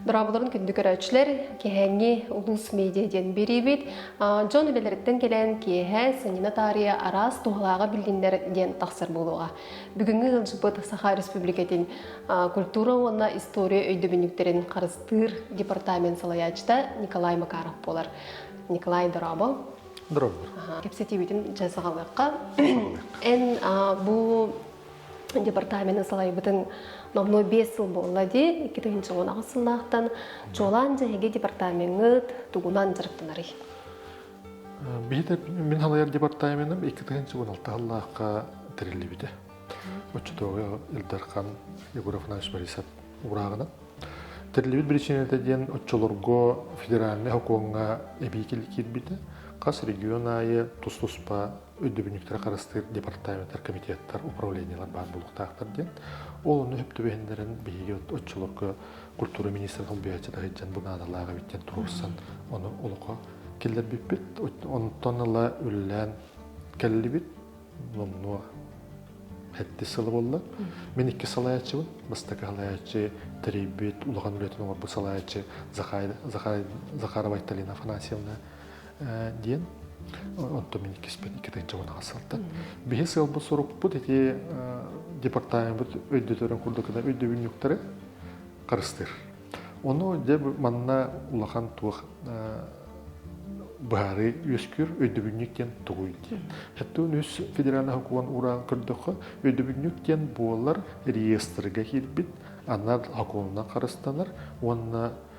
Дораабаларын күндү көрөөччүлэр, кэһэҥҥи улуус медиа диэн берибит дьон үлэлэриттэн кэлэн киэһэ Санина таарыйа араас туһалааҕы билгиннер диэн тахсар буолуоҕа. Бүгүҥҥү ыалдьыппыт Саха Республикатын культура уонна история өйдөбүннүктэрин харыстыыр департамент салайаачыта Николай Макаров буолар. Николай Дорабов. Дорабор. Кепсетибитим жасагалыкка. Эн бу департаменын салайбытын номнуо биэс сыл буолла дии икки тыһыынча он аҕыс сыллаахтан чуолаан дьэһиги департамеҥҥыт тугунан дьарыктанарый Бийите мин халайар департаменым икки тыһыынча он алты халлаахка тэриллибите. Оччотооҕу Илдархан Егоров Иванович Борисов урааҕынан. Тэриллибит причинета диэн оччолорго федеральный окуоҥҥа эбии киирбитэ. Хас регион аайы тус-туспа Өйдөбүнньүктэр харыстыыр департаменттар комитеттар управлениелар баар буолуохтаахтар диэн. Ол онно үп түбэһиннэрин биһиги оччолорго культура министрин солбуйааччы таһыдьан бу наадалаах эбит диэн туруорсан ону олохо киллэрбиппит. Онтон ыла үлэлээн кэллибит. Номнуо эттис сыла буолла. Мин икки салайааччыбын. Бастакы салайааччы тэрийбит, улахан үлэтин оҥорбут салайааччы Захарова Айталина Афанасьевна диэн онтон мин иккиспин икки тыынчыбын аҕасалтан биһи сыалбыт сорукпут ити департаментбыт өйдөтөрүн курдук гынан өйдөбүнньүктары харыстыыр ону дьэ манна улахан туох быһаарыы үөскүүр өйдөбүнньүк диэн тугуй диэн шаттыын үс федеральный хокуган ураан көрдөххө өйдөбүнньүк диэн буолар реестргэ киирбит анар хокуунунан харыстанар уонна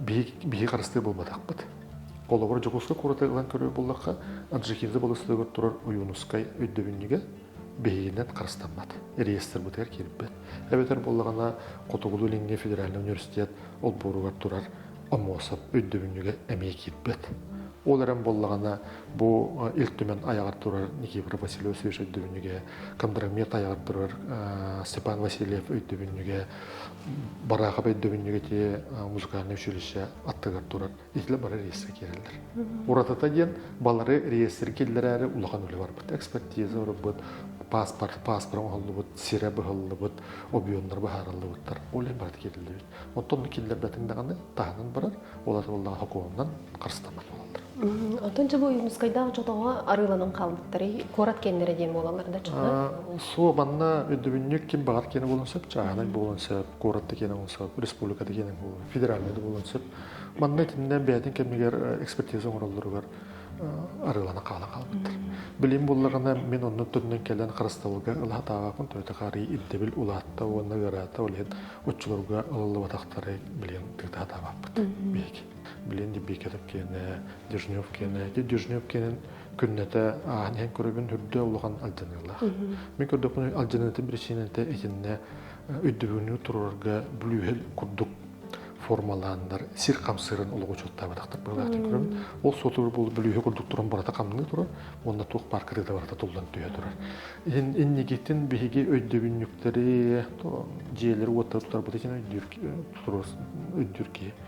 биһиги харыстыы буолбатахпыт. Холобур, Дьокуускай куораты ылан көрүү буллахха, Аджикида болустугар турар Ойуунускай өйдөбүнньүгэ биһигинэн харыстаммат. Реестрбытыгар киирбэт. Эбэтэр буоллаҕына, Хотугулуу-Илиҥҥи федеральный университет олбуоругар турар Амосов өйдөбүнньүгэ эмиэ киирбэт. Ол эрэн буоллаҕына, бу Ил Түмэн айаҕар турар Никифор Васильевич өйдөбүнньүгэ, Кондромет айаҕар турар Степан Васильев өйдөбүнньүгэ бараахап өйдөбүнньүгэтие музыкальнай училище аттыгар турар итилэ бары реестр киирэллэр. Уратата диэн балары реестр киллэрээри улахан үлэ барбыт. Экспертиза ұрбыт, паспорт паспорт оҥоһуллубут, сирэ быһыллыбыт, объемнар быһаарыллыбыттар. Олен барыт кириллибит. Оттон киллэрбэтин даҕаны таһынан барар, олар боллаҕа хокуонунан харыстаммат болаллар. Оттон дьэ бу Ойуунускайдаах дьотоҕо арыыланан хаалбыттарый куорат киэннэрэ диэн буолаллар да дьоно? Суо манна өйдөбүнньүк ким баҕар киэнэ буолуон сөп, чааһынай буолуон сөп, куоратта киэнэ буолуон сөп, республиката киэнэ буолуон, федеральнай да буолуон сөп. Манна итиннэ бэйэтин кэмигэр экспертиза оҥороллоругар арыылана хаала хаалбыттар. Билим буллаҕына мин оннук төрүнэн кэлэн харыстабылга ылатаабаппын төрүтэ хаарый ирдэбил улаатта уонна ыараата ол иһин оччолорго ылыллыбатахтары билиэн тыытаатаабаппыт биһиги. Билин Дибиикэлэп киэнэ, Дежнев киэнэ. Ити Дежнев киэнин күннэтэ ааһан иһэн көрөбүн үрдэ улахан алдьаныылаах. Мин көрдөхпүнэ алдьаныыта биричиинэтэ итиннэ өйдөбүнүү турарга бүлүүһэл курдук формалааннар сир хамсыырын олоҕучуоттаабатахтар быһылаахтан көрөбүн. Ол сотору бу бүлүүһэ курдук туран барата хамныы турар уонна туох пааркырыыта барата туллан түһэ турар. Иһин иннигитин биһиги өйдөбүнньүктэри, дьиэлэри уоттары туттарбыт иһин өйдүүр туруор өйдүүр киһи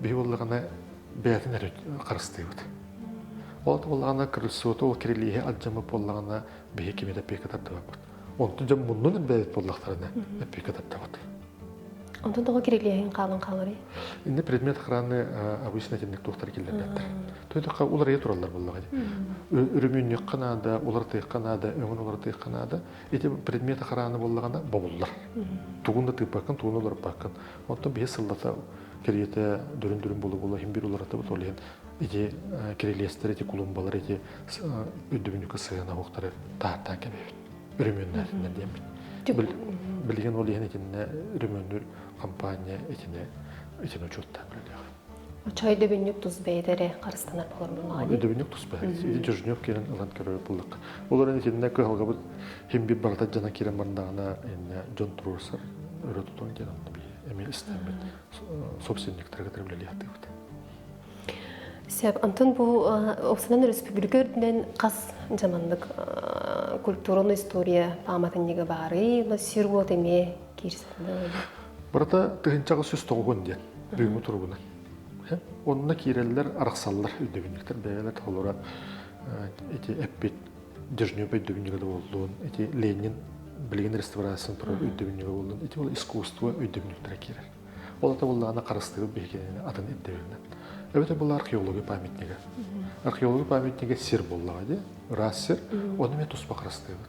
биһи буллаҕына бэйэтин эрэ харыстыыбыт. Ол боллаҕына крыльцото ол кирилиэһи алдьаммыт боллаҕына биһи кими да пека тардыбаппыт. Онтун дьон муннун бэйэт боллахтарына пека тардабыт. Онтон тоҕо кирилиэһин хаалан хааларый? Инде предмет охраны обычно этинник тухтар киллэрбэттэр. Төйдөххө улар эйэ тураллар буллаҕа дии. Үрүмүнньүккэ наада, улар тыахха наада, өҥүн улар тыахха наада. Ити предмет охраны буллаҕына бобуллар. Тугун да тыыппаккын, тугун да олорпаккын. Оттон биһи сыллата кэриэтэ дөрүн-дөрүн булу-булу иһин биир уларатыбыт ол иһин ити кирилиэстэр, ити кулумбалар, ити үрдүбүнүкү сыһыана уһуктары таһаттаан кэбиһэбит. Өрөмүөннээтиннэр диэммит. Билигин ол иһин итиннэ өрөмүөннүүр компания итини итини учуоттаан үлэлээх. Учай дөбүнньүк тус бэйэтэ эрэ харыстанар болормуннаҕа Дөбүнньүк тус бэйэ Дежнев киэнин ылан көрөр буллакка. Олорон итиннэ кыһалгабыт химбит барыта дьана киирэн бардаҕына иннэ дьон туруорсар өрө тутуон диэн онно би эми истэммит собственниктарга тырымлэлиэхтыыбыт. Сеп антын бу Оксанан республика үрдүнэн хас жамандык культураны история пааматынньыга баарый, сир уот эме киирсетинэ Барыта тыһыынча аҕыс сүүс тоҕугун диэн бүгүҥҥү туругунан. Онно киирэллэр, арахсаллар өйдөбүнньүктэр бэйэлэр толора ити эппит Дежнюбай дөбүнньүгэ да буоллун, ити Ленин билигин реставрациян турар өйдөбүнньүгэ буоллун, ити ол искусство өйдөбүнньүктэрэ киирэр. Ол ата буллаана харыстыыбыт биһигини атын ирдэбилинэн. Эбэтэ бұл археология памятнигі. Археология памятнигі сир боллаға де, рас сир, оны мен туспа харыстыыбыт.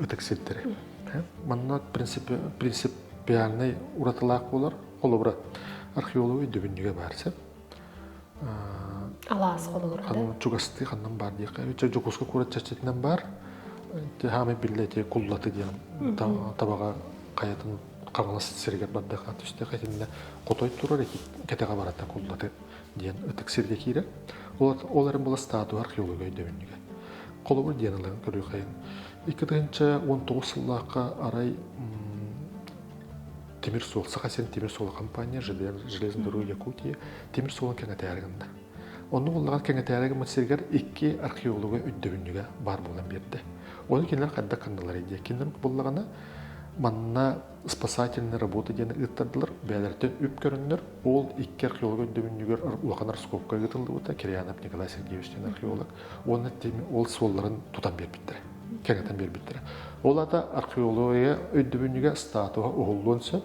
ытык сирдэри. Манна принципиальнай уратылаах буолар. Холобура, археологы өйдөбүнньүгэ баар сир. Алаас холобура. Ханан чугастыы ханnan бар диэхэ. Дьокуускай куорат чэрчитинэн бар. Тыһаамы биллэ эти куллаты диэн табаҕа хайатын хаҥалас сиригэр бардахха түстээх этиннэ хотой турар эти кэтэҕэ барата куллаты диэн ытык сиргэ киирэр. Ол эрэн була статуя археолога өйдөбүнньүгэ. Холобур диэн ылан көрүөхэйин. Икки тыһынча он тоҕус сыллаахха арай тимир суол саха син тимир суол компания железнодорога якутия тимир суолун кэҥэтээригиннэ онну буллаҕар кэҥэтээригиммит сиргэр икки археолога өйдөбүнньүгэ баар буолан биэрдэ оны кинилэр хайдах кынналар диye кинилер буллаҕына манна спасательная работа диэн ыыттардылар. Бэйэлэриттэн үп көрөннөр, ол икки археолог өйдөбүнньүгэр улахан раскопка ыытыллыбыта. Кирьянов Николай Сергеевич диэн археолог. Уонна ол суолларын тутан биэрбиттэрэ. Кэҥэтэн биэрбиттэрэ. Ол ата археология өйдөбүнньүгэ статуса уһуллуон сөп.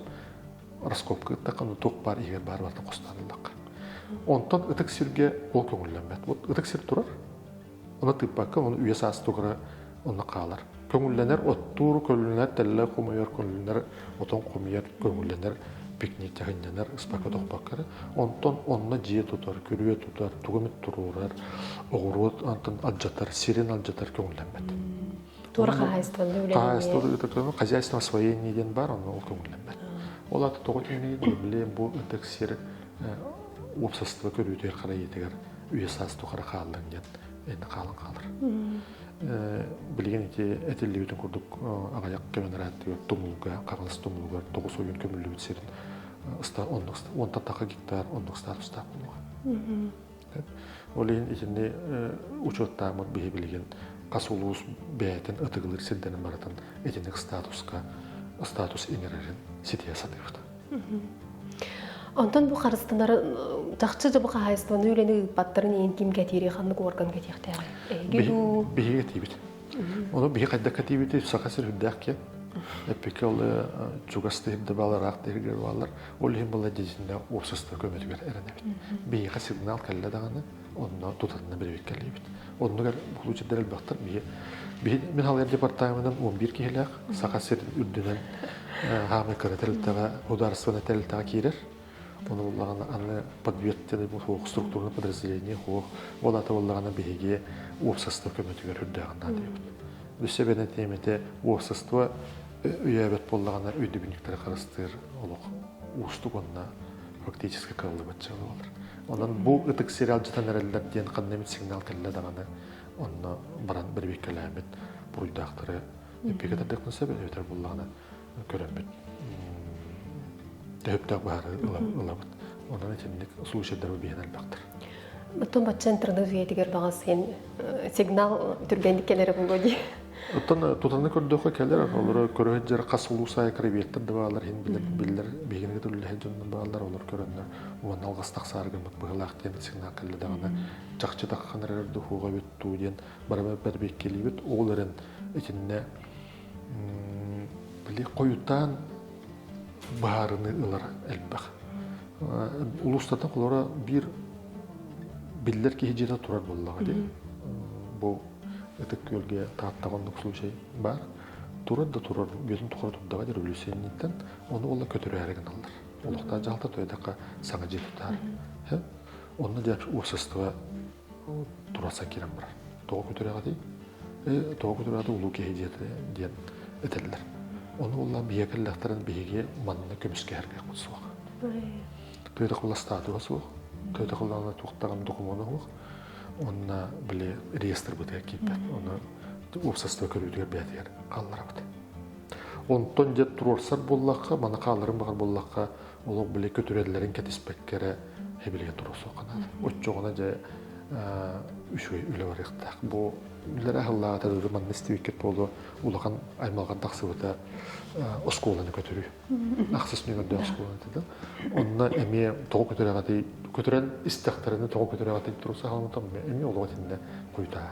Раскопка ыыттахха, туох баар иһигэр баар барыта хостоонуллахха. Онтон ытык сиргэ ол көҥүллэммэт. Вот ытык сир турар, Ону тыыппакка, ону үйэ саастыгара онно хаалар. Көҥүллэнэр, оттуур, көрүллэнэр, тэллэр хомойор, көрүллэнэр, отон хомуйар, көҥүллэнэр, пикник тыһынньанар, ыспакка тохпоккор. Онтон онно дьиэ тутар, күрүө тутар, тугу эмит туруорар, оҕуруот антын алдьатар, сирин алдьатар көҥүллэммэт. Туора хаһаайыстыбаны үлэлэниэ. Хаһаайыстыба хозяйство освоения диэн баар, онно ол көҥүллэммэт. Ол ата тоҕо тиҥнэйин, билим бу ынтык сир уопсастыба көрүүтүгэр харайыытыгар үйэ-саас тухары хааллын диэн енді хаалан хаалар. Билигин ити этиллибитин курдук аҕайах көмөн арааттыгар тумулга, хаҥас тумулугар тоҕус ойун көмүллүбүт сирин оннук онтан тақа гектар оннук статустаах булуга. Ол иһин итини учуоттааммыт биһи билигин хас улуус бэйэтин ытыгылык сирдэрин барытын итинник статуска статус иҥэрэрин ситиһэ сатыахтан. Онтон бу харыстанары чахчы да бу хаһайыстыбаны үлэни ыыппаттарын иин ким кэтиири ханнык орган кэтиэхтээҕи биһиги кэтиибит ону биһи хайдах кэтиибити саха сир үрдээх киэн эппикки ол чугас тыһырда баалар аах тыһыргар баалар Ол иһин благодетельнай уопсастыба көмөтүгэр эрэнэбит. Биһиэхэ сигнал кэллэ даҕаны, онно тутанна бирибиккэлиибит. Оннугар получердар элбэхтэр. Мин халыйар департаменынан 11 киһилээх Саха сирин үрдүнэн хаамай кыра тэрилтэҕэ, ударственнай тэрилтэҕэ киирэр. Оны буллаҕына аны подвертный суох структурный подразделение хуох ол аты буллаҕына биһиги уопсастыба көмөтүгэр үрдээҕин наадыйабыт. Үс эбэнэ тиэмэтэ уопсастыба үйээбэт буоллаҕына өйдөбүнньүктэри харыстыыр олох уустук уонна фактически кыаллыбат дьыала болар. Онон бу ытык сериал дьатан эрэллэр диэн ханна эмит сигнал кэллэ даҕаны онно баран бэрбиккэлээммит буруйдаахтары эппикэтэрдиэхтэн сөп эбэтэр буллаҕына көрөммүт төһөптөөх быһаарыы ылабыт. Онон итинник случайдары биһэн элбэхтэр. Оттон бачча интернет үйэтигэр баҕас син сигнал түргэнник кэлэрэ буолуо дии. Оттон тутаны көрдөхө кэлэр олору көрө сылдьар хас улуу сайа креветтер да баалар иһин билэр билэр биһигини көрүллэһин дьоннор баалар олор көрөннөр уонна алгас тахсаары гыммыт быһылаах диэн сигнал кэллэ даҕаны чахчы тахханар эрэр духуоҕа бүт дуу диэн барыма бэрбиккилиибит ол эрэн итиннэ Били хойутаан быһаарыныы ылара элбэх. Улуустата холора биир биллэр киһи дьиэтэ турар буоллаҕа дии. Бу ытык күөлгэ тааттаҕа оннук случай баар. Турар да турар бүөтүн тухары турдаҕа диир Өлүсэнниттэн ону олла көтүрээри гыналлар. Олохтоох дьаһалта тойдахха саҥа дьиэ тутаар. Онно дьэ уопсастыба тураса киирэн барар. Тоҕо көтүрэҕитий? Тоҕо көтүрэҕитий улуу киһи диэн этэллэр. Ону улла биһиги кэллэхтэрин биһиги манна көмүскэһэргэ суох. Тыыра кыластаатыга суох. Тыыра кыллаана туохтарын докумуона суох. Онна били реестр бытыгар киирбэт. Оны уопсастыба көрүүтүгэр бээтигэр хаалларабыт. Онтон дьэ туруорсар буоллахха, мана хааларын баҕар буоллахха, олох били көтүрэллэрин кэтиспэккэ эрэ эбилигэ туруо суохханаан оччоҕуна дьэ үчүгэй үлэ барыахтаах бу билэр аһыллаата дуу манна истибиккит буолуо улахан аймалҕан тахсыбыта оскуоланы көтүрүү ахсыс нөмөрдөөх оскуоланы да онно эмиэ тоҕо көтүрэҕэтий көтүрэн истэхтэринэ тоҕо көтүрэҕэтий туруса хаалымтан эмиэ олоҕо итиннэ куйтаа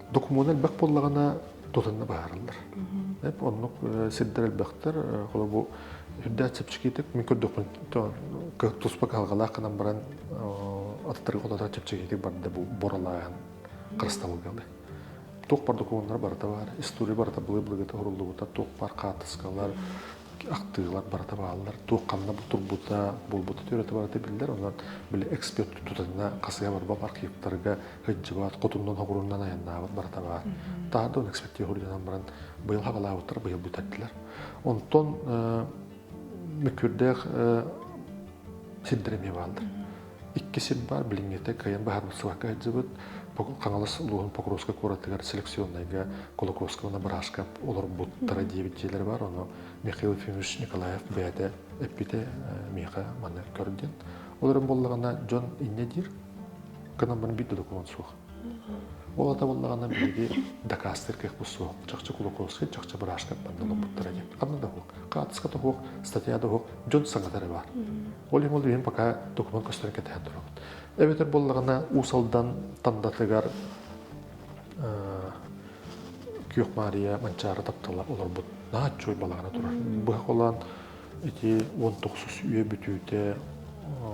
докумуона элбэх буоллаҕына тутанна быһаарыллар. Оннук сирдэр элбэхтэр. Холо бу үрдээх чэпчэкитик мин көрдөхпүн туспа кыһалҕалаах гынан баран аттарга ототоох чэпчэкитик барда бу боралаан харыстабылгалы. Туох бар докумуоннар барыта бар, история барыта былы-былыгыта уруллубута, туох бар хаартыскалар, ахтыылар барыта бааллар. Туох ханна турбута, буолбута төрөтө барыта биллэр. Онон били эксперт тутатына хасыга барбап архивтарга кыдьыбат, хотуннан хоҕуруннан айаннаабыт барыта баар. Таһа да экспертия хоруйданан баран быйыл хабалаабыттар быйыл бүтэрдилэр. Онтон Мүкүрдээх синдэр эмиэ бааллар. Икки сир баар, билиҥҥитэ кыайан быһаарыллыбакка сылдьыбыт Хаҥалас улууһун Покровскай куоратыгар селекционнайга Колокольского Набраска олорбуттара диэбит дьиэлэр баар. Ону Михаил Ефимович Николаев бэйэтэ эппитэ, миэхэ манна көр диэн. Ол эрэн буоллаҕына, дьон инньэ диир, кынан барын биир да документ суох. Ол атабыллаҕына биһиги дакаастыыр кыахпыт суох. Чахчы Кулаковскай, чахчы быраастарбан доломмуттара диэн. Ханна да уһук, хаартыска да уһук, статья да уһук, дьон саҥатары баар. Ол иһин ол үйэм пока документ көстөрөн кэтэһэн турабыт. Эбэтэр буоллаҕына Уус Алдан Тандатыгар Күөх Маарыйа Манчаары таптала олорбут нааччой балаҕана турар. Быһа холоон Ити уон тохсус үйэ бүтүүтэ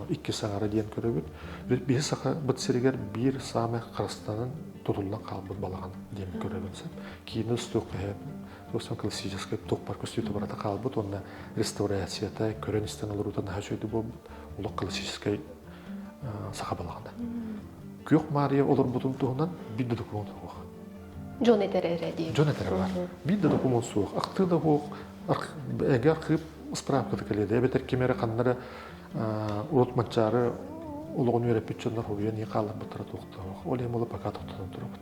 иккис аҥара диэн көрөбүт. Биһи Сахабыт сиригэр биир саамай харастанан тутуллан хаалбыт балаҕан диэн көрөбүн сөп. Киинэ устуох иһэ классическай туохпар көстүүтэ барата хаалбыт уонна реставрацията көрөн-истэн олоруута наһаа үчүгэй буолбут олох классическай саха балаҕана. Күөх Маарыйа олорбутун туһунан биир да документ суох. дьон этэрэ эрэ диэн дьон этэрэ бар биир да докумуон суох ахтыы да буох эгэ архыып справката кэлиэде эбэтэр ким эрэ ханнары урут маччаары олоҕун үөрэппит дьоннор хобуйан ии хааларбыттара туохтоох ол эмоло пока тоқтотон турабыт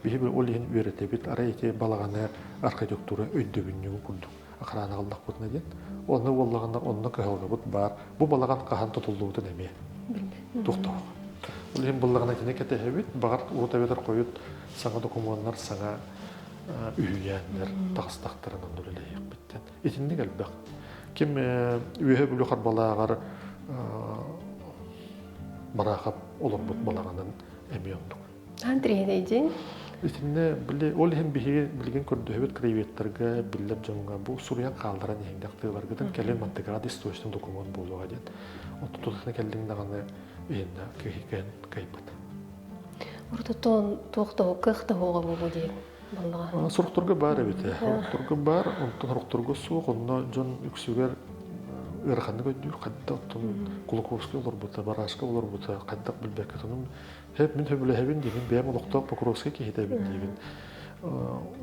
биһи ол иһин үөрэтэбит арай ити балаҕаны архитектура өйдөбүнньүгү курдук охрана ыллахпытына диэн онно буоллаҕына онно кыһалҕабыт баар бу балаҕан хаһан тутуллубутун эмиэ тохтоох ол иһин буллаҕына кини кэтэһэбит баҕар урут эбэтэр хойут саҥа докумуоннар саҥа үһүйээннэр тахыстахтарынан үлэлэһиэхпиттэн итинник элбэх ким үөһэ бүлүү харбалааҕар марахап олорбут балаҕанын эмиэ оннук Аан тириһинэйдин. Итиннэ били ол иһин биһиги билигин көрдөһөбүт краеведтарга биллэр дьонго бу суруйан хаалларан иһиндэх тыыларгытын кэлин маттыград источный документ буолуоҕа диэн. Отту тутуһна келлиң даҕаны иһинна кыһикэн кайпыт. Ортотон туохтоһу кыахтаһуоҕа бу диэн боллаҕа. Сорукторга бар эбит. Сорукторга бар, онтон сорукторга суох, онно дьон үксүгэр ыараханнык өйдүүр, хайдах оттон Кулаковский олорбута, Барашка олорбута, хайдах билбэккэ тонун Һэп мин сөбүлэһэбин диигин бэйэм олохтоох бокуруоска киһитэ эбин диигин.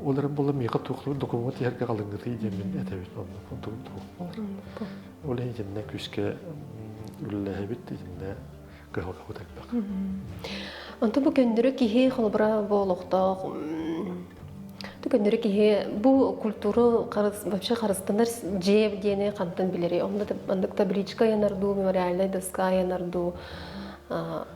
Ол эрэн буолла миэхэ туохтук докумуот иһэргэ халыҥнытыы диэммин этэбин онно онтук туох буолар. Ол иһин итиннэ күүскэ үлэлэһэбит итиннэ кыһалҕабыт элбэх. Онту бу көннөрү киһи холобура бу олохтоох Ту көннөрү киһи бу культура вообще харыстанар дьиэ диэни хантан билери онна маннык табличка янар дуу мемориальный доска янар дуу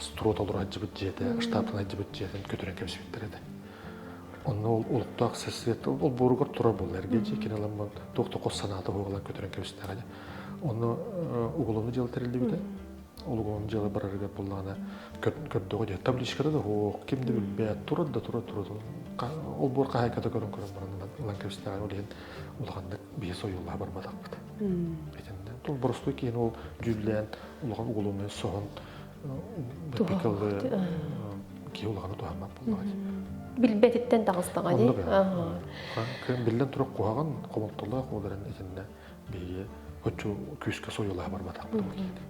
струот олору сылдьыбыт дьиэтэ, штатын сылдьыбыт дьиэтин көтүрэн кэбисибиттэр этэ. Онно ол олохтоох сарсыарда ол буоругар турар буолла эргэ дьиэ кини ламмын туох да хос санаата буолла көтүрэн кэбистэҕэ онно уголовный дьыала тэриллибитэ ол уголовный дьыала барарыгар буллаҕына көрдөҕө дьэ табличката да оһох ким да билбэт турар да турар турар ол буор хаһаайката көрөн көрөн баран ылан кэбистэҕэ ол иһин улаханнык биһи сойуллаһа барбатахпыт итиннэ ол боростуй киһин ол дьүүллээн улахан уголовнай соһон тыл киһи улахана туһаммат буоллаҕай билбэтиттэн таҕыстаҕа дии биллэн турар куһаҕан хомолтолоох ол эрэн итиннэ биһиги хочу күүскэ сойулаһа барбатахпытым киһини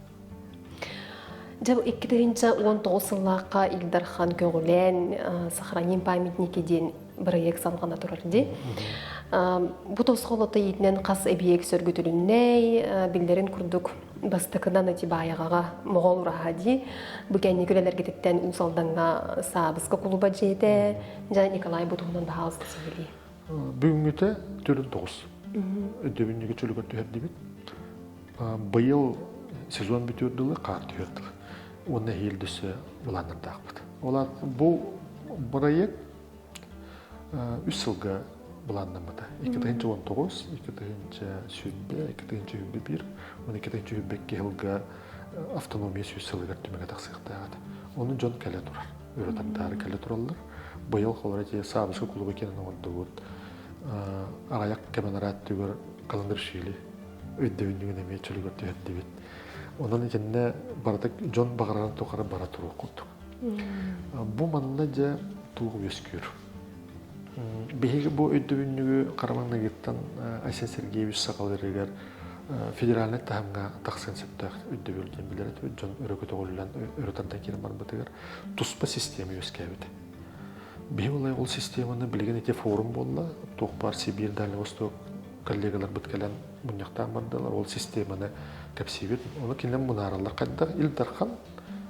Дьэ, икки тыһыынча уон тоҕус сыллаахха Ил Дархан көҕүлээн «Сохраним памятники» диэн бырайыак салҕана турар дии. Бу тосхолото иитинэн хас эбийиэк сөргүтүлүннэй, биллэрин курдук бастакынан ити баайаҕаҕа моҕол ураһа дии бу кэнники үлэлэргититтэн Уус Алдаҥҥа саабыска кулуба дьиэтэ дьэ Николай бу туһунан баһаалыста сиһилии бүгүҥҥүтэ түөрт тоҕус өдөбүнньүгэ чөлүгэр түһэрдибит быйыл сезон бүтүөр дылы хаар түһүөр дылы уонна иһилдьісэ былааннардаахпыт ол бу бырайыак үс сылга былааннаммыта. Икки тыһыынча он тоҕус, икки тыһыынча сүүрбэ, икки тыһыынча сүүрбэ биир, он икки тыһыынча сүүрбэ икки сылга автономия сүүс сылыгар түмэгэ тахсыахтаах Ону дьон кэлэ турар, ырытардаары кэлэ тураллар. Быйыл холоро дьиэ саабыска кулуба киэнин оҥордубут. Аҕайах кэмэн арааттыгар каландаршили өйдөбүннүгүн эмиэ чөлүгэр түһэрдибит. Онон итиннэ барыта дьон баҕарарын тухары бара туруоххут. Бу манна дьэ туох үөскүүр? Биһиги бу өйдөбүнньүгү хараманныгыттан Айсен Сергеевич сахаларыгар федеральнай таһымҥа тахсыан сөптөөх өйдөбүл диэн билэр дьон өрө көтөҕүллэн өрө тардан киирэн барбытыгар туспа система үөскээбит. Биһиги олай ол системаны билигин ити форум буолла. Туох баар Сибиир, Дальний Восток коллегаларбыт кэлэн мунньахтаан бардылар. Ол системаны кэпсиибит. Ону кинилэр мунаараллар хайдах Ил Дархан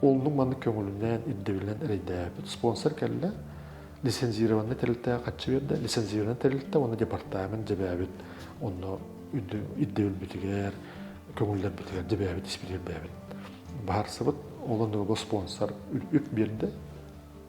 Уллук маннык көҥүлүнэн, ирдэбилинэн эрэйдээбит спонсор кэллэ. Лицензированный тэрилтэ хаччы берді, лицензированный тэрилтэ оны департамент жебээбит, онно ирдэбилбитигэр, көҥүллэрбитигэр жебээбит, испитигэр бээбит. Барсыбыт, ол оннуга спонсор үп берді.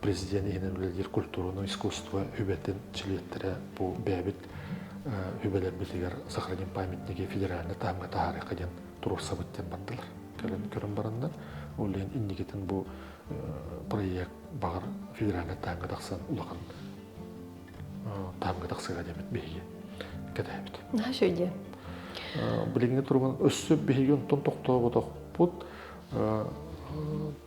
президент иһинэн үлэлиир культураны искусство үбэтин чилиэттэрэ бу бэйэбит үбэлэрбитигэр сохраним памятники федеральнай таһымҥа таһаарыахха диэн туруорсабыт диэн бардылар кэлэн көрөн бараннар ол иһин инникитин бу проект баҕар федеральнай таһымҥа тахсан улахан таһымҥа тахсыга диэмит биһиги кэтэһэбит наша үден билиҥҥи туругун өссө биһиги онтон тоқтооботохпут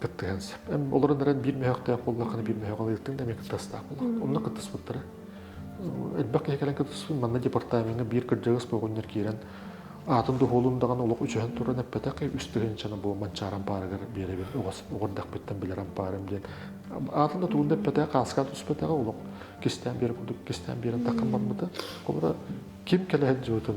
кыттыһан сөп. Олорон эрэн биир мөһөхтөөх буоллаххына биир мөһөх алыытын эмиэ кыттастаах буоллаҕа. Онно кыттыспыттара. Элбэх киһи кэлэн кыттыспыт. Манна департамеҥҥа биир кырдьаҕас боҕунньар киирэн аатын дуһуолун даҕаны олох үчүһэн туран эппэтэх үс тыһыынчаны бу Манчаар ампаарыгар биэрэбин оҕордохпуттан билэр ампаарым диэн аатын да тугун да эппэтэх хааска түспэтэҕэ олох кистээн биэрэ курдук кистээн биэрэн таххан барбыта холобура ким кэлэһин дьыбытын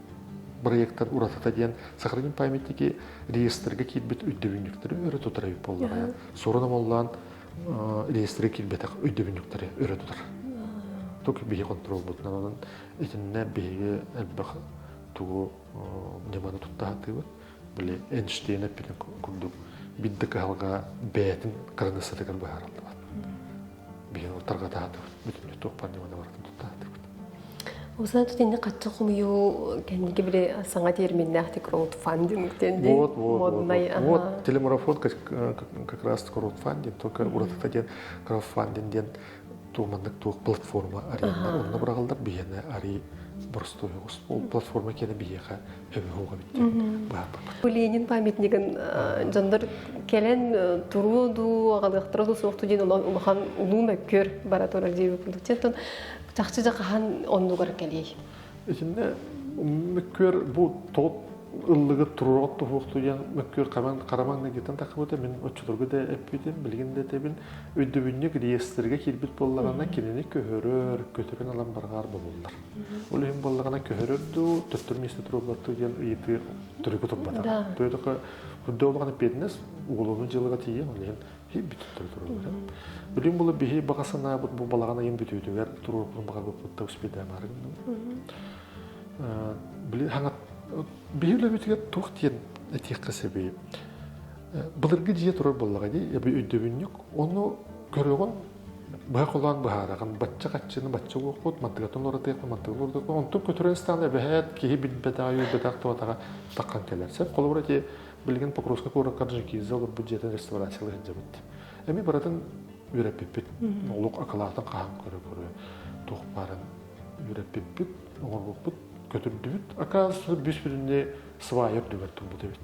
бырайыактар уратыта диэн сохраним памятники реестрге киирбит өйдөбүнньүктэри өрө тутар эбит буоллаҕа сурун омоллоон реестрге киирбэтэх өйдөбүнньүктэри өрө тутар тук биһи контролбутунан онон итиннэ биһиги элбэх тугу ньыманы туттаһатыыбыт били Эйнштейн эппитин курдук бидды кыһалга бээтин кырыныстатыгар быһаарыллыбат билигин ол тарҕатаатыбыт бүтүннүү туохпар ньыманы барытын туттаатыбыт Осыдан тут инде качча хомуйуу кэнники били саҥа терминнээхтик краудфандинг диэн вот моднай вот телемарафон как раз краудфандинг только уратыта диэн краудфандинг диэн тууманнык туох платформа аренна онно бырагалдар биһиэнэ ари боростуйоҕус ол платформа киэнэ биһиэхэ Бу Ленин памятнигын дьондар кэлэн туруу дуу, аҕалыахтара дуу суохту диэн улахан улуу мөккүөр бара турар диир курдук. Чахчы да хаһан оннугар кэлиэй? Итиннэ мөккүөр бу тоот ыллыгы туруорат туһуохту я мөккүөр хаман хараманны гитан такабыта мен оччотургу да эппитим билигин да тебин өйдөбүннүк реестрге кирбит болларана кинини көһөрөр көтөрүн алан баргаар болуллар Ол иһин буоллаҕына көһөрөр дуу, төттөрү место туруорбат дуу диэн ыйытыы төрүккэ турбатаҕа. То это үрдөө олаҕына пиэдинэс уголовнай дьыалаҕа тиийэ, ол иһин бүттэ туруорбата. Билим була биһи баҕа санаабыт бу балаҕан айын бүтүүтүгэр туруорпутун баҕарбыппыт да успедаамаары гынным. Били хаҥат биһи үлэбитигэр туох диэн этиэххэ сөбүй? Былыргы дьиэ турар буоллаҕа дии, өйдөбүнньүк. Ону көрөҕүн быһа кулаак быһаарагын бачча хаччыны бачча уохут мантыгатын уратыаха мантыгын уратыаха онтун көтүрэн стала эбэһээт киһи билбэтаҕа үйбэтэх туотаҕа таққан кэлэр сеп холобура ти билигин покровский куоракка джинкиза олорбут дьиэтин реставрациялы сылдьабыт эми баратын үрэппиппит олук акылаатын хаһан көрө көрө туох барын үрэппиппит оҥорбуппут көтүрдүбүт акаас бүүс бүтүннэ свайер дүгэр турбут эбит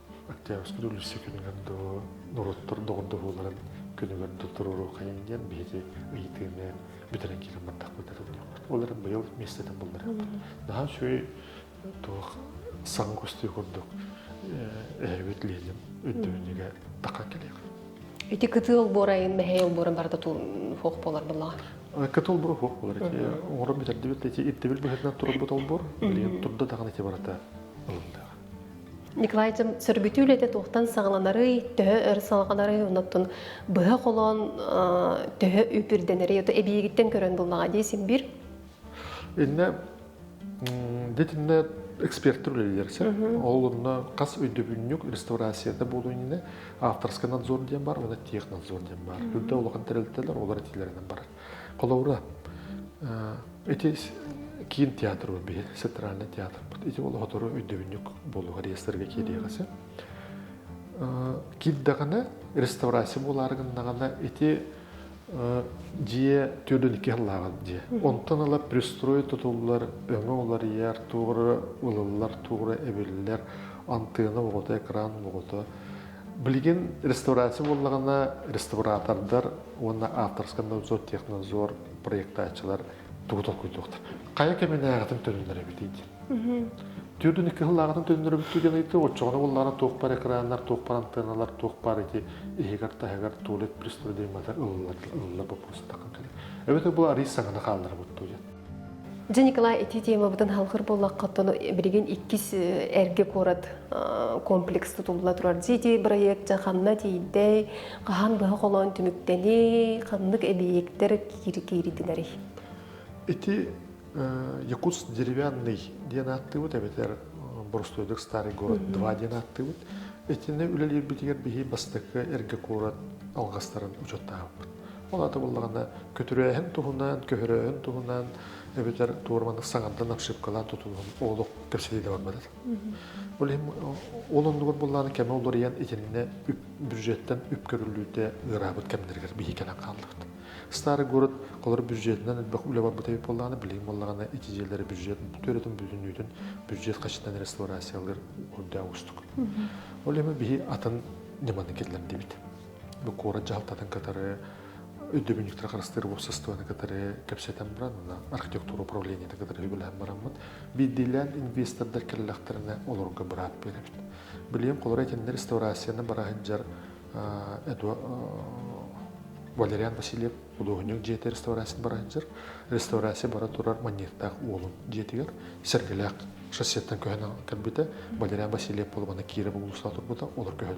Октябрьскай үлүсэ күнүгэр доо, норуоттар доҕордоһууларын күнүгэр да туруоруохайын диэн биһиги ыйытыыны бүтэрэн киирэн бардахпыт эрэннэх. Ол эрэн быйыл миэстэтин булларыахпыт. Наһаа үчүгэй туох саҥа кустуу курдук эһэбит Лилим өндөөнүгэ тақа кэлиэх. Ити кытыы олбуорайын, мэһэй олбуоран барыта фох болар булаҕа. Кытыл булу фох болар. Оҥорон бүтэрдибит, ирдэбил быһыытынан турарбыт олбуор, билигин турда даҕаны ити барыта ылындаах. Николайдым сөргүтүү үлэтэ туохтан саҕаланарый, төһө өр салҕанарый, оннуттун быһа холоон төһө үпүрдэнэрий, ото эбиигиттэн көрөн буллаҕа дии син биир. Иннэ дитинне эксперттер үлэлерсер. Ол онно хас өйдөбүнньүк реставрацияда болу инне авторский надзор диэн бар, оны технадзор диэн бар. Үрдө олахан тэрилтелер олар этилеринен барар. Холобура, ити киин театры биһир центральный театрпыт ити олоходору өйдөбүннүк болуга реестрге киириэҕэси кирдэгана реставрация булаарыгыннагана ити дьиэ түрдүн икки хыллааҕын дьиэ онтон ала пристрой тутуллар өҥө уларыйар туора ылыллар туора эбиллэр антыына оҕото экран оҕото билигин реставрация буллагана реставратордар уонна ааптарскай надзор, технадзор проектааччылар тугу толкуйдуохтар. Хайа кэминээҕитин төнүннэр эбитий диэн. Түөртүн икки сыллааҕытын төнүннэр эбиттии гын ыйытты, оччоҕуна буоллаҕына туох бар экраннар, туох бар антенналар, туох бар ити иһигэр-таһыгар туалет пристройдамматар ылыллар боппуруостахха кэлэр. Эбэтэр бу арыый саҥаны хаалларабыт дуу диэн. Дьэ, Николай, ити темабытын халхыр буллахха тону билигин иккис эргэ куорат комплекс тутулла турар. Дии бырайыак дьа ханна тиийдэй, хаһан быһа холоон түмүктэни, ханнык эбийиэктэр кииритинэри? Ити Якутс деревянный диэн ааттыбыт эбэтэр Боростуойдук Старый город 2 диэн ааттыбыт. Итини үлэлиирбитигэр биһи бастакы эргэ куорат алгастарын учеттаабыппыт. Ол аата буллаҕына көтүрээһин туһунан, көһөрөөһүн туһунан эбэтэр туора маннык саҥардан ошибкалаан тутуһун олох кэпсэтии да барбатар. Ол иһин ол оннугар буллааны кэме уларыйан итиннэ бюджеттен үп көрүллүүтэ ыыраабыт кэмнэригэр биһи кэлэн хааллыбыт. Старый город холор бюджетинэн элбэх үлэ барбыта эбит боллааны билигин боллаҕына ити дьиэлэри бюджет бүтөрөтүн бүтүннүүтүн бюджет қашытынан реставрациялар үрдэ устук. Ол иһин биһи атын ньыманы киллэрдибит. куорат дьаһалтатын кытары өйдөбүнньүктэр харыстыыр уопсастыбаны кытары кэпсэтэн баран, архитектура управлениета кытары үлэлэһэн бараммыт. Биирдиилээн инвестордар кэллэхтэринэ олорорго быраап биэрэбит. Билиэм, холоро этэннэр реставрацияны бара сылдьар Валериан Васильев худуоһунньук дьиэтэ реставрацияны бара сылдьар. Реставрация бара турар манньыаттаах уолун дьиэтигэр сэргэлээх шоссеттан көһөн кэлбитэ. Валериан Васильев буолбана Кира булуустаах турбута, олор көһөн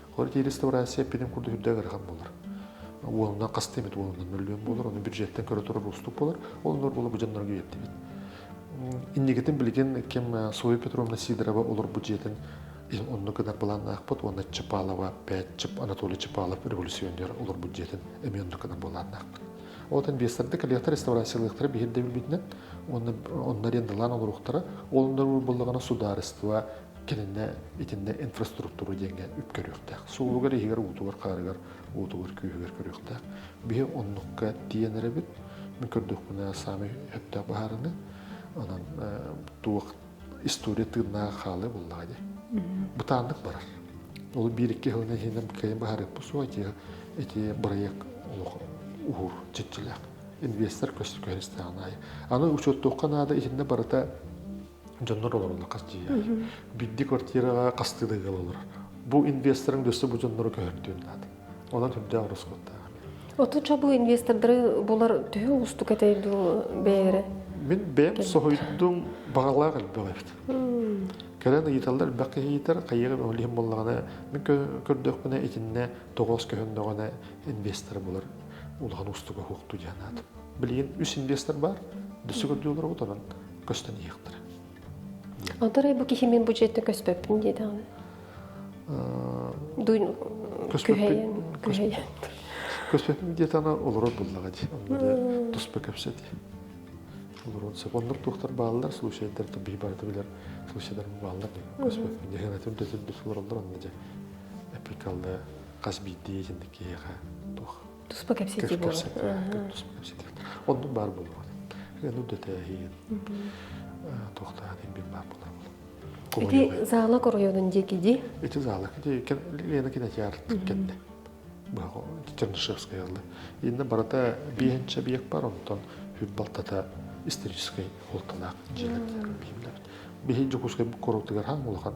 Хлоридия реставрация эппитим курдук үрдээх ыарахан буолар. Уолунан хаста эмит уолунан мөллүөн буолар, оны бюджеттен көрө турар уустук болар. Ол нөр була быжаннарга үеттибит. Иннигитин билигин кем Соя Петровна Сидорова олор бюджетин онну кынар былааннаахпыт уонна Чапалова, Пятчеп, Анатолий Чапалов революционер олор бюджетин эми онну кынар болааннаахпыт. Отан бестарды коллектор реставрациялыктары бihирде билбитинен, онна оннар ендалан олоруктара, олондар боллагана судаарыстыба, кининэ итиннэ инфраструктура диэҥҥэ үп көрүөхтээх. Суолугар, иһигэр, уутугар, хараҕыгар, уутугар, күүһүгэр көрүөхтээх. Биһи оннукка тиийэн эрэбит. Мин көрдөхпүнэ саамай сөптөөх быһаарыны. Онон туох история тыыннааҕа хаалыа буоллаҕа дии. Бытааннык барар. Ол биир-икки сылын иһинэн кыайан быһаарыахпыт суоҕа дьиэ ити бырайыак олох уһуур чиччилээх. Инвестор көстө көһөрүстээҕин аайы. Аны учуоттуохха наада итиннэ барыта дьоннор олороллор хас дьиэ бидди квартираҕа хастыы да ыал олорор бу инвесторын өссө бу дьоннору көһөрдүөм наада онон сүрдээх ороскуоттаах Отуча бу инвестордары булар төһө оҕустук этэй дуу бэйэрэ мин бэйэм соһуйдум баҕалаах элбэх эбит кэлэн ыйыталлар бэх кэһиитэр хайыгым өһүлүһүм боллаҕына мин көрдөхпүнэ итиннэ тоҕоос көһөннөҕүнэ инвестор булар улахан устуга хуохту диэн аат билигин үс инвестор бар дөссө көрдүүлэр онон көстөн иһиэхтэрэ Отарай бу киһимин бу жерде көспөппүн диэтэҕин. Дуйн күһэйэн күһэйэн. Көспөтүм диэт ана олорор буллаҕа дии. Онно туспа кэпсэти. Олорон сөп. Оннук туохтар бааллар, слушайдар то би барыта билер слушайдар бааллар дии. Көспөтүм диэһэн этим дэтин дус олороллор онно дьэ. Эпикалла хас биирдии итинник киһиэхэ туох туспа кэпсэтии буолла туспа кэпсэтии оннук баар буолуоҕа аны дөтөөһүн туохтаатын бир баар булабын ити зала коройонун диэки ди ити зала ити лена кинотеатр кэннэ Чернышевская инна барата биэһинчэ биек бар онтон хүпбалтата историческай холталаах дьиэлэр бихин дьокускай корутугар хаң улахан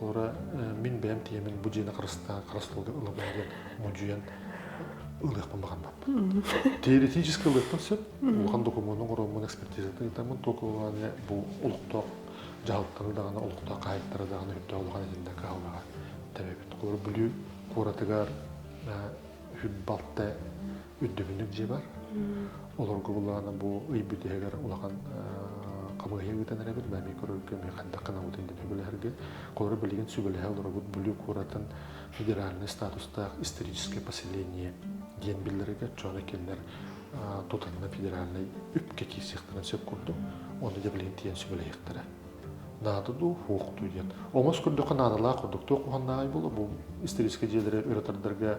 Олора мин бэйэм тиэмин бу дьиэни харыстаан харыс тылга ыла баарын модьуйан ылыахпын баҕарбаппын. Теоретически ылыахпын сөп. Улахан докумуонун оҥороммун экспертизатын ыытаммын туоку бу олохтоох дьаһалтаны даҕаны олохтоох хаһаайыттары даҕаны үрдэ улахан этиннэ кыһаллаҕа тэбэбит. Олор Бүлүү куоратыгар үһү балта үрдүбүннүк дьиэ бар. Олорго буллаҕына бу ый бүтүһэгэр улахан хамыыһыйа ыытан эрэбит. Бэми көрөргө, ми хандах кынабытын дин сүбэлэһэргэ. Колор билигин сүбэлэһэ олоробут Бүлүү куоратын федеральный статустаах историческое поселение диэн биллэригэ чоно келлер тутанна федеральный үпке киисиэхтэрин сөп курдук. Оны да билигин тиен сүбэлэһиэхтэрэ. Наадыду хуохту диэн. Омос көрдөхө наадалаах ордуктуох уһаннаай болу бу исторический дьиэлэри өрөтөрдөргө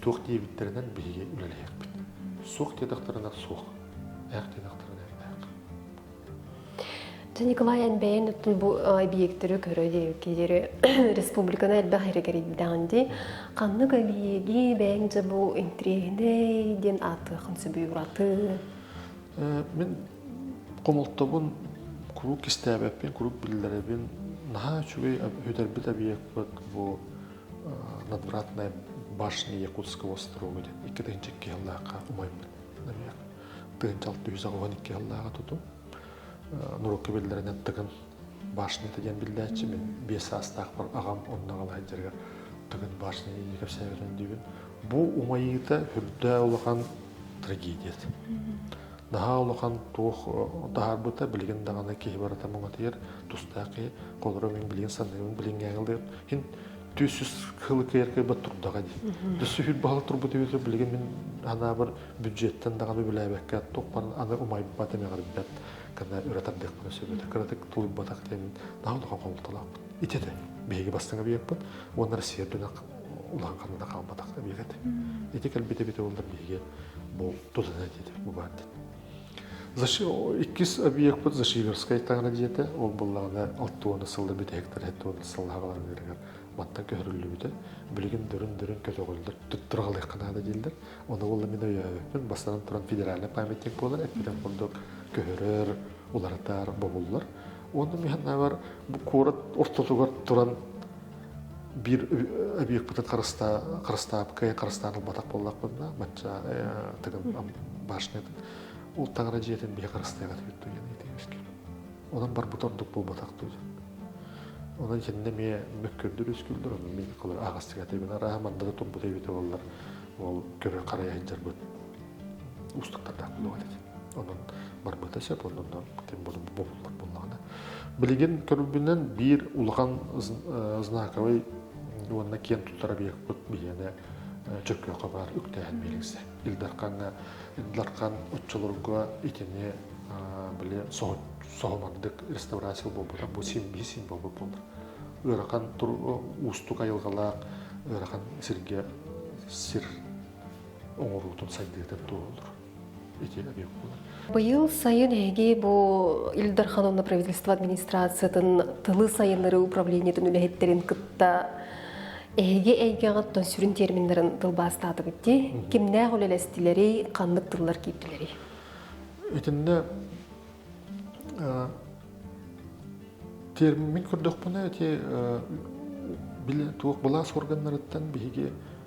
Туох диэбиттэринэн биһиги үлэлэһиэхпит. Суох диэтэхтэринэ суох, ээх диэтэхтэринэ ээх. Николай эн бэйэн оттун бу объектөрү көрө диэри республиканы элбэх эргэрийдэҕин дии. Ханнык объеги бэйэҥ дьэ бу интриэһинэй диэн ааттыахын сөбүй ураты? Мин хомолтобун куруук истээбэппин, куруук биллэрэбин. Наһаа үчүгэй өтөрбүт объекпыт бу надвратная башня якутского острога диэн икки тыһыынча икки сыллаахха умайбыт намек тыһыынча алты жүз аҕыһын икки сыллааҕа туту нуруокка биллэринэн тыгын башнята диэн биллээччи мин биэс саастаахпар аҕам онно аҕалаһан дьарыгар тыгын башня иии кэпсээбитин диибин бу умайыыта үрдээ улахан трагедия наһаа улахан туох таһаарбыта билигин даҕаны киһи барыта муҥатыйар тустаах киһи олорор мин билиэн саныыбын билиҥҥээҕилдиэн иһин түс үс хыл кыйар кыйбат турдаҕа дии дүс үһүл баһал турбут үбүтэ билигин мин анаабыр бюджеттан даҕаны үлэлээбэккэ туохпар аны умайбат эмэҕирбэт кана үра тардыахпына сөбүтэ кыратык тулуйбатах диэн наһаа улахан хомолтолоохпут итиэтэ биһиги бастыҥ объекпыт уонна россия үрдүнэн улахан ханада хаалбатах объект ити кэлбит эбит ол да биһиги бу тутана диэтэ бу баар диэн Иккис объекпыт Зашиверская таҥара дьиэтэ. Ол буллаҕына алта уона сылда бүтэһиктэр эт уона сыллааҕыларыгар маттан көһөрүллүбүтэ. Билигин дөрүн-дөрүн көтөҕөллөр, туттураҕалыахха наада дииллэр. Оны болла мин өйөөбүппүн, бастатан туран федеральнай памятник буолар, эппитин курдук көһөрөр, уларытар бобуллар. Онно миһаннааҕар куорат ортотугар туран биир объекпытын харыстаабыккай харыстаан ылбатах буоллахпын да мачча тыгын башнятын ол таҥара дьиэтин биһи харыстайҕат диэн итиэбискин онон барбыт ордук буолбатах дуу онон кэннэ эмиэ мөккүрдүр үскүлдэр онно мин кылыр аҕастыгатыбын арааһа мандата турбут эбитэ боллар ол көрө харайа сылдьарбыт устуктардаах буолуох этит Онон барбыта сөп, онно ким булуммут буллаҕына. Билигин көрүбүнэн биир улахан знаковый уонна киэн туттар объекпыт биһиэнэ Чөккөөхө баар үктээһин биэриҥсэ. Илдархаҥа, Илдархан оччолорго итини били соһумардык реставрация буолбута бу син биир син буолбут буолар. Ыарахан тур уустук айылгалаах ыарахан сиргэ сир оҥоруутун сайдыытын туолар. Быйыл сайын эһиги бу Ил Дархан уонна правительство администрациятын тылы сайыннарыы управлениетын үлэһиттэрин кытта эһиги эйгэҕиттэн сүрүн терминнэрин тылбаастаатыгыт дии. Кимнээх үлэлэстилэрий, ханнык тыллар киирдилэрий? Итиннэ термин көрдөхпүнэ эти били туох былаас органнарыттан биһиги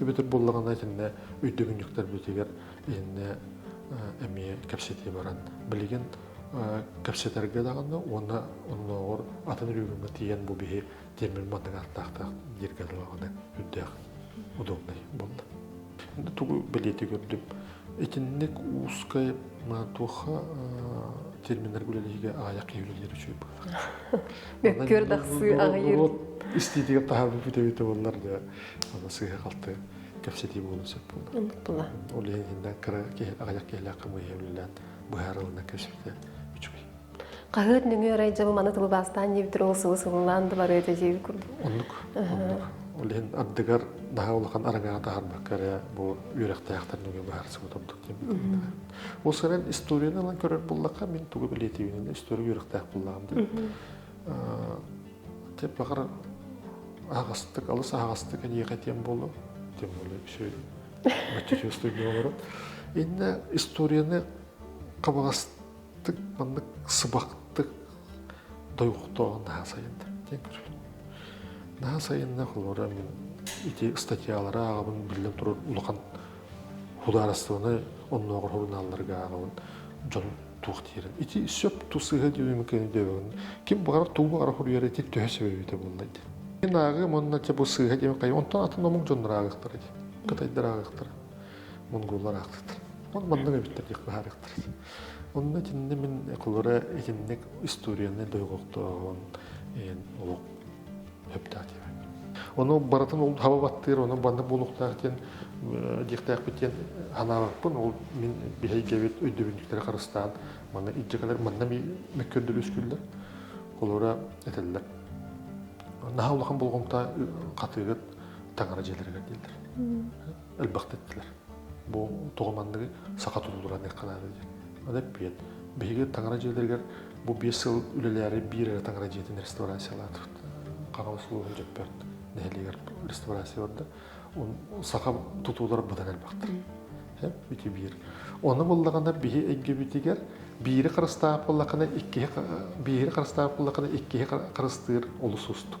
Үбүтүр буллаҕына итиннэ үйдүгүнньүктэрбитигэр итиннэ эмиэ кэпсэтии баран билигин кэпсэтэргэ даҕаны уонна оннооҕор атын үрүүгүҥҥэ тиийэн бу биһи тимир манныгааттаахтаах дииргэ даҕаны үрдээх удобнай буолла. Тугу бэлиэти көрдүм. Итинник узкай туохха терминнерге үлэлэһиигэ аайах киһи үлэлиир үчүгэй быһыылаах. Мөккүөр дахсыы аҕыйыр. Истиитигэр таһаабыт бүтэбитэ буоллар да сыыһа-халты кэпсэтии буолуон сөп буолла. Ол иһиннэ кыра киһи аҕыйах киһилээх хамыыһа үлэлээн быһаарылына кэпсэтэ үчүгэй. Хаһыат нөҥүө арай дьабы маны тылы бастаан диэбитир ол сылы сылылаан да барыа дьиэби курдук. Оннук. Оннук. Ол иһин ардыгар даһа улахан араҥаҕа таһарбакка эрэ бу үөрэхтээхтэр нөҥүө быһаарсыбыт ордук диэн Ол сырын историяны ылан көрөр буллахха, мин тугу билетибинэн история үөрэхтээх буллаҕым диэн. Те баҕар аһаҕастык, алыс аһаҕастык эдиэхэ диэн буолуо. Тем более все материустуйга олорот. Инна историяны кабаластык маннык сыбахтык дойхтоон наһаа сайынна. Тен көрүлүм. Наһаа сайынна холора мин ити статьялары ааҕабын биллэн турар улахан худаарыстыбаны оннооҕор хорунаалларга ааҕабын дьон туох диирим ити сөп ту сыһы диэбимикэни диэбэҕин ким баҕар туу баҕар хоруйара ити төһө себебите буоллай дин мен ааҕым онно те бу сыһа диэм хай онтон атын омук дьоннор ааҕыктар эти кытайдар ааҕыктар монголлар аахтыттар он маннык эбиттэр диэх баһаарыктар онно итинне мин кулура итинник историяны дойгоктооһун эн олох сөптөөх диэбэт ону барытын ол хаба баттыыр ону банна буолуохтаах диэн диэхтээхпит диэн санаабаппын ол мин биһэйгэбит өйдөбүнньүктэрэ харыстаан манна илдьэ кэлэр манна мөккөрдөрү үскүллэр олора этэллэр наһаа улахан болҕомто хатыыгыт таҥара дьиэлэригэр диэллэр элбэх диттилэр бу тоҕо манныгы саха тулулура аныахханааҕы диэн аны эппиэт биһиги таҥара дьиэлэригэр бу биэс сыл үлэлээри биир эрэ таҥара дьиэтин реставрациялаатыт хаҥа услуга дьөппөт нэһилиэгэр реставрация барда саха тутуулар быдан элбэхтэр ити биир оны буллаҕына биһи эйгэбитигэр биири харыстаап буллахына иккиһи биири харыстаап буллахына иккиһи харыстыыр олус уустук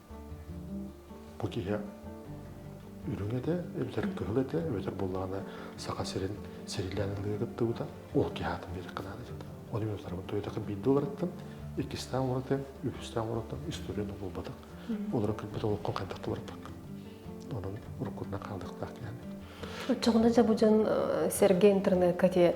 Бу киһи үрүҥ этэ, эбэтэр кыһыл этэ, эбэтэр буоллаҕына Саха сирин сирилээн ылыыга кыттыбыта. Ол киһи аатын биэрэххэ наада этэ. Оны мен утарабын тойотакы биирде олараттан, иккистээн орото, үһүстээн орото историятын булбатах. Олору кырбыт олоххо хайдах туарпак. Онон уруккутунан хаалдыктаах киһи. Оччоҕуна Дьабудьан сэргэ интернетка те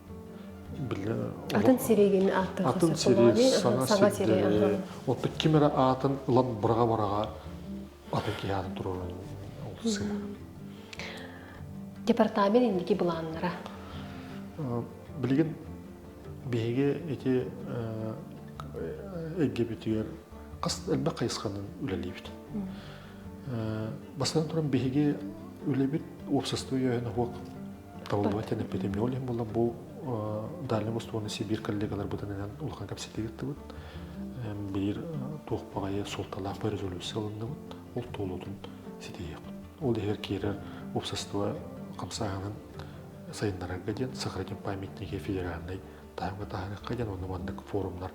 атын сирэйгин ааттаха атын сирий саҥа сирдери отут ким эрэ аатын ылан быраҕа быраҕа атын киһи аатын туруоран олсуйар департамент индики былааннара билигин биһиги ити эггибитигэр хас элбэх хайысханан үлэлиибит бастатан туран биһиги үлэбит уопсастыба өһүн оһуок талыллыбат диэн эпидемиология буолла бу дальнай бостуонна сибиир коллегаларбытын инэн улахан кэпсэтии ыыттыбыт биир туох баҕайы суолталаах бу резолюция ылынныбыт ол туолуутун ситиһиэхпит ол иһигэр киирэр уопсастыба хамсааһынын сайыннарарга диэн сохраним памятники федеральной Таарбатаһыахха диэн ону маннык форумнар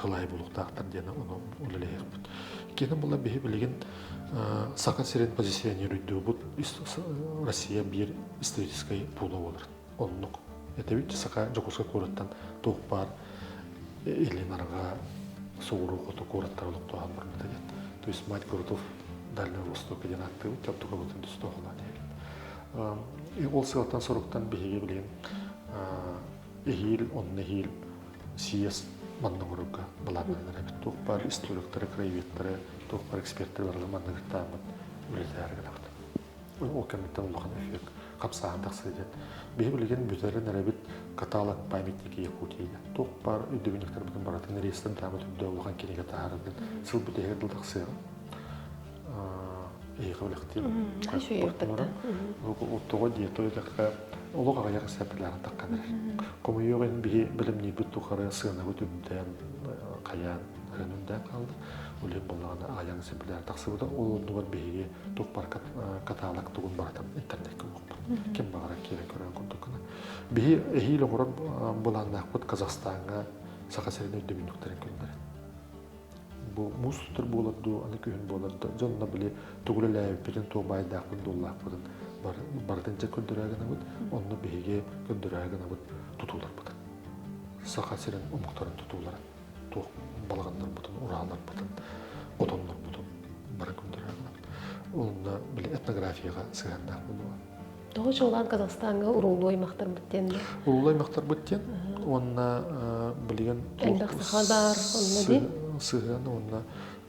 кылайы булуктаахтар диэн ону үлэлэһиэхпит. Иккиэн була биһи билигин Саха сирин позиционируйдуубут Россия биир историческай пуула буолар. Оннук этэбит Саха Дьокуускай куораттан туох баар илин араҕа сууру хоту куораттар олохтооһун барбыта диэн. То есть мать городов Дальнего Востока диэн ааттыыбыт, Кабдука Батын түстөөхөлөөн Ол сыалтан-соруктан биһиги билигин эһиил, онно эһиил съезд маннымырга былааннанар эбит. Туох баар историктары, краеведтары, туох баар эксперттери барылы манныгыртааммыт үлэлэһэр гынабыт. Ол кэмниттэн улахан эффект хапсаан тахсыы диэн. Биһи билигин бүтэрин эрэбит каталог памятники Якутии. Туох баар өйдөбүнньүктэрбитин барытын реестрин таамат үрдө улахан кинигэ таһарытын сыл бүтээри тахсыаҕа. эйиэхэ билэхтиэм тоҕо дии то идэххэ олох аҕыйах сәппилээхтэххэ хомойуох ин биһи бэлэмниирбит тухары сыанабыт үндээн хайаан өнүндээн хаалда улиин боллаҕына ааян сәппилээр тахсыбыта ол оннугар биһиги туппар каталог тугун барытын интернетке уоппут ким баҕара киирэ көрөн курдуккуна биһи эһиил оҕорор былааннаахпыт казахстанга саха сирин өйдөбүннүктэрин күннэрин бу муус устар буолар дуу, аны күһүн буолар да, дьонно били тугу үлэлээбиппитин, туох баайдаахпын-дуоллаахпытын барытын дьэ көрдөрө гынабыт, онно биһиги көрдөрө гынабыт тутууларбытын. Саха сирин омуктарын тутууларын, туох балаҕаннарбытын, урааларбытын, отоннорбутун бары көрдөрө гынабыт. Онно били этнографияҕа сыһыаннаах буолуо. Тоҕо чуолаан Казахстаҥҥа уруллуу аймахтарбыт диэннэр? Уруллуу аймахтарбыт диэн уонна билигин элбэх саха баар онно дии сыһыан уонна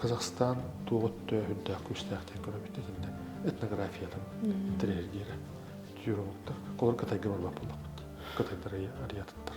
Казахстан туох өттөөһүрдээх күүстээх диэн көрөбүт итиннэ этнографиятын тирээһиргиэрэ тюрологтар олор кытайга барбат буоллахпыт кытайдар ариятыттар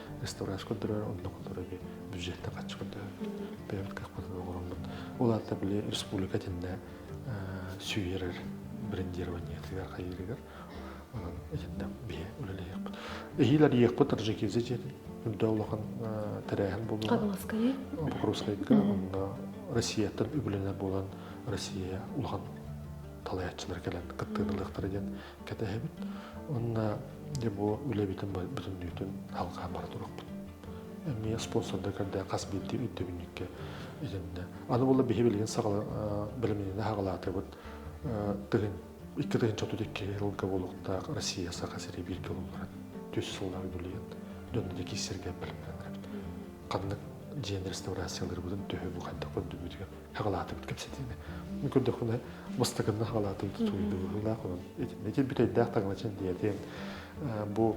реставрация көрдөрөр онно көрдөрөрү бюджеттан хаччы көрдөрөр бэйэбит кахпытын оҕороммут улаата били республика тиннэ сүйерер брендированиетыгар хайырыгар онон итиннэ биһи үлэлэһиэхпит эһиилэр иэхпит таджикизе диэтин үрдө улахан тэрээһин булула Катмаскайы Покровскайга онна Россияттан үбүлэнэр буолан Россия улахан талаятчылар кэлэн кыттыырылыахтара диэн кэтэһэбит уонна дьэ бу үлэбитин бүтүн дүүтүн халҕаан бара турахпыт эмиэ спонсордар көрдөөн хас биирдии өйдөбүнньүккэ идэннэ аны була биһи билигин саҕала бэлэмниини хаҕалаатыбыт тыһын икки тыһын чотут икки yılга болуктаах Россия Саха сири бииргэ улуулларан түс сыллар үбүлүйэн дьонно дьэ киссерге бэлэмнэнэбит ханнык дьиэ реставрацияларбытын төһө бу хайдах көрдүбүтүгэр Хаҕалаатыбыт кэпсэтиини. Көрдөхпүнэ, бастакынна хаҕалаатыбыт суруйдулаах онон итин бүтэйдээх таҥалачын диэтин, бу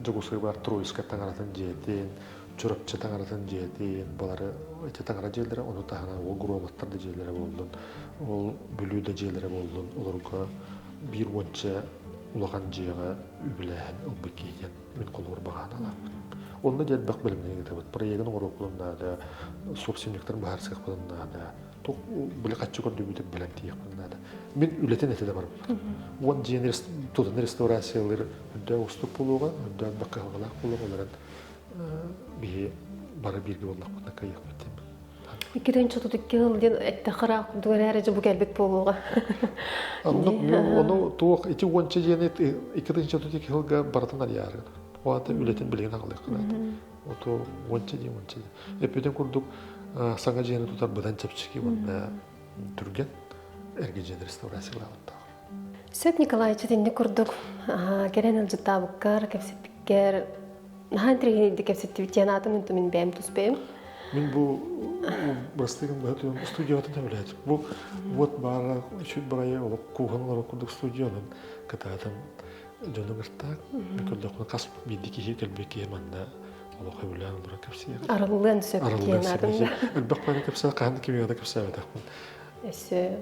Дьогусуйбар Троицка таҥаратын дьиэтин, Чурапчы таҥаратын дьиэтин, балары эти таҥара дьиэлэрэ, ону таһынан ол громаттар да дьиэлэрэ буоллун, ол бүлүү да дьиэлэрэ буоллун, олорго биир уонча улахан дьиэҕэ үбүлээһин ылбыт киһитин Мин холобур баҕаһын ылааппын. Онно диэрбэх бэлэмнэһии ыытабыт. Проегын оҥоруохпутун наада, собственниктарын быһаарсыахпытын наада. Били хаччы көрдүбүтүр бэлэм тииэхпин наада. Мин үлэтин этэ да барбыт. Уон дьиэни тутан реставрациялыыр үрдэ устук буолуоҕа, үрдэ өлбөх кыһалҕалаах буолуоҕа, олорон биһи бары бииргэ буоллахпытына кыайыахпыт диэн. Иккитин чотут икки сыл диэн эттэххэ курдук эрээри дьэ бу кэлбит буолуоҕа. Онно туох ити уонча дьиэни иккитин чотут икки сылга барытын арыйаарыгын. Уонта үлэтин билигин аҕалыаххынаата. Оту уонча дьиэ уонча дьиэ. Эппитин курдук саҥа дьиэни тутар быдан чэпчэки уонна түргэн эргэ дьиэ реставрациялаабыттаах. Сөп, Николаевич, итинник курдук кэлэн ыалдьыттаабыккар, кэпсэппиккэр наһаа интэригинэйдик кэпсэттибит диэн аатын үнтү мин бэйэм туспайым. Мин бу бастакы быһа туйам студияҕа төбөлөөтүм. Бу вот баара үчүт бырайы олох кууһан олорор курдук студиянан кытаатым дьону быртаак. Көрдөххүнэ хас биирди киһи төлбө киһи манна олох өбүлээн олорор кэпсиир. Арыллыан сөп диэн атын. Элбэх бары кэпсээн хаһан кимиге да кэпсээбэтэхпин. Өссө